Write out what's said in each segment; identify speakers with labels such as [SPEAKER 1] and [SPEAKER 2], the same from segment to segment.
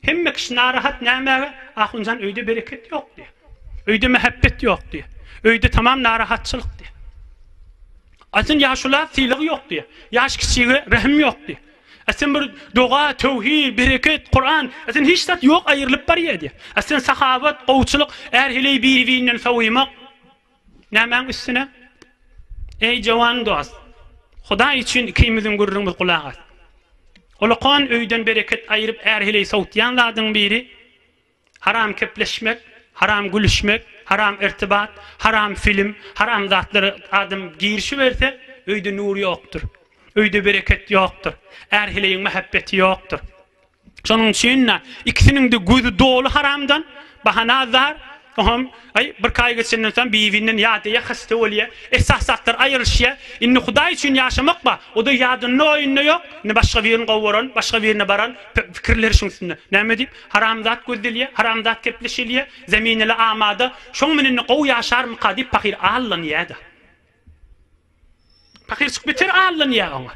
[SPEAKER 1] Hemme kişi narahat nämege? Ahunjan öýde bereket ýok diýýär. Öýde mähebbet ýok diýýär. Öýde tamam narahatçylyk diýýär. Aýsyn ýaşula sylag ýok diýýär. Ýaş kiçige rehim ýok diýýär. Aýsyn bir doga, töwhi, bereket, Kuran, aýsyn hiç zat ýok aýrylyp barýar diýýär. Aýsyn sahabat, gowçylyk, är heleý biri-birinden sowumak. Nämäň üstüne? Eý, jowan dost, Hudaý üçin ikimiziň gürrüňimiz gulak as. Ulukhan öýden bereket aýryp är-heleý sowutýan zadyň biri, haram kepleşmek, haram gülüşmek, haram irtibat, haram film, haram zatlara adam girişiberse, öýde nur ýokdur. Öýde bereket ýokdur. Är-heleýiň mähebbeti ýokdur. Şonuň üçin-de ikisiniň-de gözi doly haramdan, bahana azar, Oňam, aý, birki aý geçenden soň bibinden ýadýa, hasta bolýa, esasy zatlar aýrylyşýa. Indi Hudaý üçin ýaşamak bar, o-da ýadynda-oýunda ýok. Indi başga birini gowaran, başga birine baran, pü, pikirleri şuň üstünde. Näme diýip, haramzat gözdelýä, haramzat gepleşilýä, zemin ele amada. Şoň bilen indi gowy ýaşarmyka diýip pahyr allanýa-da. Pahyrjyk beter allanýa oňa.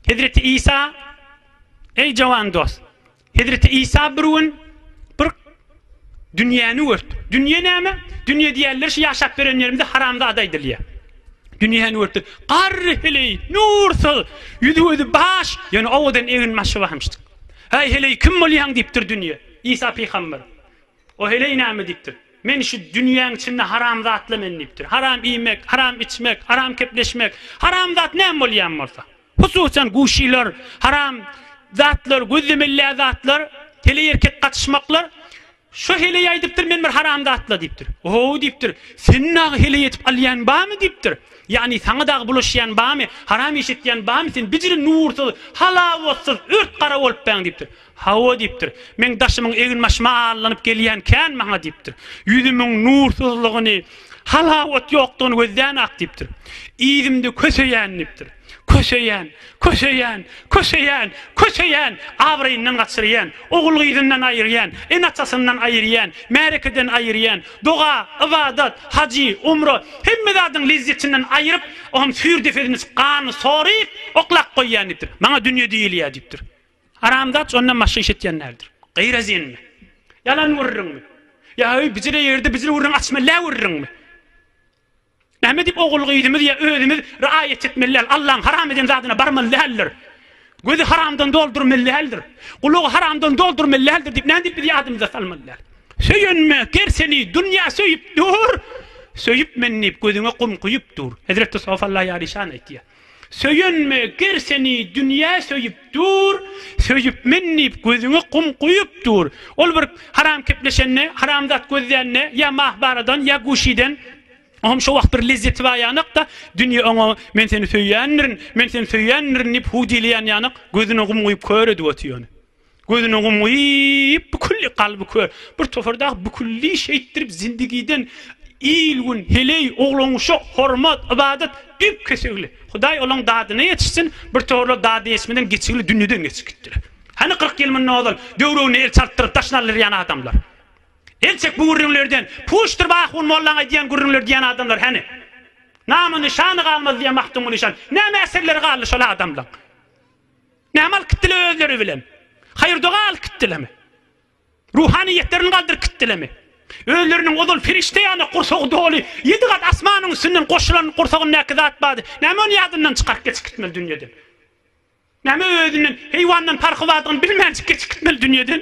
[SPEAKER 1] Hezreti Isa, Eý jawan dost! Hezreti Isa bir gün bir dünýäni gördi. Dünýe näme? Dünýe diýýänler şu ýaşap ýören ýerimizde haramzada aýdylýar. Dünýäni gördi. Garry heleý, nursyz, ýüzi-gözi baş, ýöne owadan egin-başy barmyşdyk. Häý heleý, kim bolýaň diýipdir dünýe. Isa pygamber. O heleý näme diýipdir? Men şu dünýäň içinde haram zatla men diýipdir. Haram iýmek, haram içmek, haram kepleşmek, haram zat näme bolýan bolsa. Hususan guşylar, haram zatlar, gözlemelä zatlar, heleý-erkek gatyşmaklar. Şu heleý aýdypdyr men bir haram zatla diýipdir. Ohow diýipdir. Seni dagy heleý edip alýan barmy diýipdir. Ýagny saňa dagy bulaşýan barmy, haram iş etýän barmy, sen bijiri nursyz, halawatsyz, ört-gara bolupbaň diýipdir. Hawa, diýipdir. Meň daşymyň eginbaşyma allanyp gelýän känmi-ha, diýipdir. Ýüzümiň nursyzlygyny, halawat ýokdugyny gözlän-ak, diýipdir. Yzymda köseýän, diýipdir. Köseýän, köseýän, köseýän, köseýän, abraýyndan gaçyrýan, ogul-gyzyndan aýyrýan, ene-atasyndan aýyrýan, märekeden aýyrýan, doga, ybadat, hajy, umra, hemme zadyň lezzetinden aýryp, oňam süýr depesini, ganyny soryp, oklap goýýan, diýipdir. Maňa dünýe diýilýär, diýipdir. Haramzat şondan başga iş etýän däldir. Gyýra zenmi? Ýalan gürrüňmi? Ýa-öý bijire ýerde bijire gürrüň açmella gürrüňmi? Näme diýip ogul-gyzymyz ýa özümiz raýat etmeli däl? Allaň haram eden zadyna barmaly däldir. Gözi haramdan doldurmaly däldir. Gulagy haramdan doldurmaly däldir diýip näme diýip biz ýadymyza salmaly däl? Söýenme, gerseni dünýä söýüp dur. Söýüp men diýip gözüňe gum guýup dur. Hezreti Sofalla ýaryşan aýtýar. Söýenme, ger seni dünýä söýüp dur, Söýüp men diýip gözüňe gum guýup dur. Ol bir haram kepleşende, haram zat gözlände, ýa Mahbaradan, ýa Guşiden, o hem şo wagt bir lezzeti bar ýanak-da, dünýe oňa Men seni söýýändirin, men seni söýýändirin diýip huw diýilýän ýanak, gözüne gum guýup kör edip otyr ony. Gözüni ymgyp, bükülli kalby kör, bir topar dagy bükülli şeýtdirip zindigiden il-gün, heleý, oglan-uşak, hormat, ybadat, üýp-kesegli. Hudaý olaň dadyna ýetişsin, bir toparlar dadyna ýetişmeden geçigli dünýeden geçip gitdiler. Hany kyrk ýyl mundan ozal döwrebine el çaltdyryp daşyny aldyrýan adamlar? El çek bu gürrüňlerden, puşdyr Bahun mollaň aýdýan gürrüňleri diýen adamlar hany? Namy-nyşany galmady diýen Magtymguly şan, näme äserleri galdy şol adamlaň? Näme alyp gitdiler özleri bilen? Haýyr-doga alyp gitdilermi? Ruhanyýetlerini galdyryp gitdilermi? Özleriniň ozal perişde ýaly gursagy doly, ýedi gat asmanyň üstünden goşulan gursagyndaky zat bady, näme ony ýadyndan çykaryp geçip gitmeli dünýeden? Näme özünden, heýwandan parhy bardygyny bilmänjik geçip gitmeli dünýeden?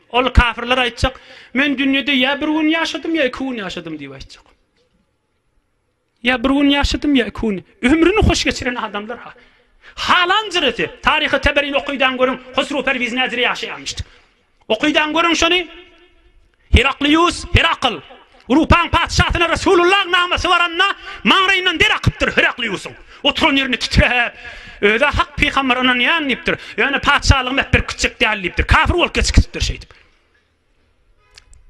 [SPEAKER 1] Ol kafirler aýtjak, Men dünýede ýa bir gün ýaşadym, ýa iki gün ýaşadym diýip aýtjak. Ýa bir gün ýaşadym, ýa iki gün. Ömrüni hoş geçiren adamlar ha. Halanjyrysy, taryhy Teberini okydan görüň, Husru Perwiz nädire ýaşaýamyşdy. Okydan görüň şony. Heraklius, Herakl. Rupaň patyşasyna Resulullah namasy baranda, maňlaýyndan der akypdyr. Herakliusyň oturan ýerini titräp, Öz-ä hak pygamber ynanýan diýipdir. Ýöne patyşalygymy äpberip gitjek däl diýipdir. Kafir bolup geçip gitipdir şeýdip.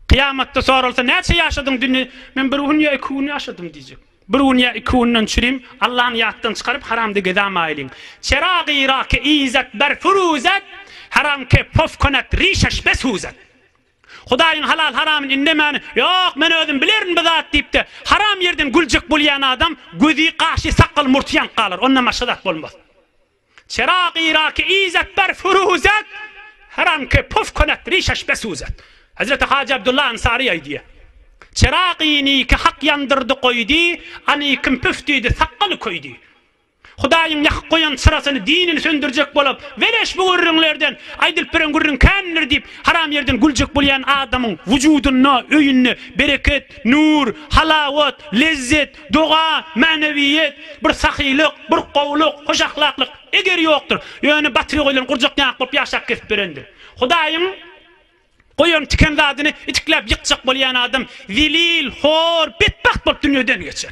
[SPEAKER 1] Kyýamatda soralsa, Näçe ýaşadyň dünýä? Men bir gün ýa iki gün ýaşadym diýjek. Bir gün ýa iki günden çürim, Allany ýatdan çykaryp, haramda gezämaýlyň. Çerag-y-rake izet ber furuzet, haramke pofkonat rişeş be suzet. Hudaýyň halal-haramyny indemäni, Ýok, men özüm bilerin bu zat diýip-de, haram ýerden güljek bolýan adam gözi, gaşy, sakgaly, murty ýanyp galar, ondan başga zat bolmaz. Çerag-i-raki izet ber furuzet, haramke puf kunet rişeş besuzet. Hezreti Hajy Abdullah Ansary aýdýar, Çerag-i niki hak ýandyrdy goýdy, anikim püf diýdi, sakgaly köýdi. Hudaýyň ýakyp goýan çyrasyny, dinini söndürjek bolup, beleş bu gürrüňlerden, aýdylyp beren gürrüň kändir diýip, haram ýerden güljek bolýan adamyň wujudynda, öýünde bereket, nur, halawat, lezzet, doga, mänewiýet, bir sahylyk, bir gowulyk, hoş ahlaklyk, eger ýokdur. Ýöne batyry goýlan gurjak ýaňak bolup ýaşap kesip berendir. Hudaýyň goýan tiken zadyny itikläp ýykjak bolýan adam zelil, hor, betbagt bolup dünýeden geçer.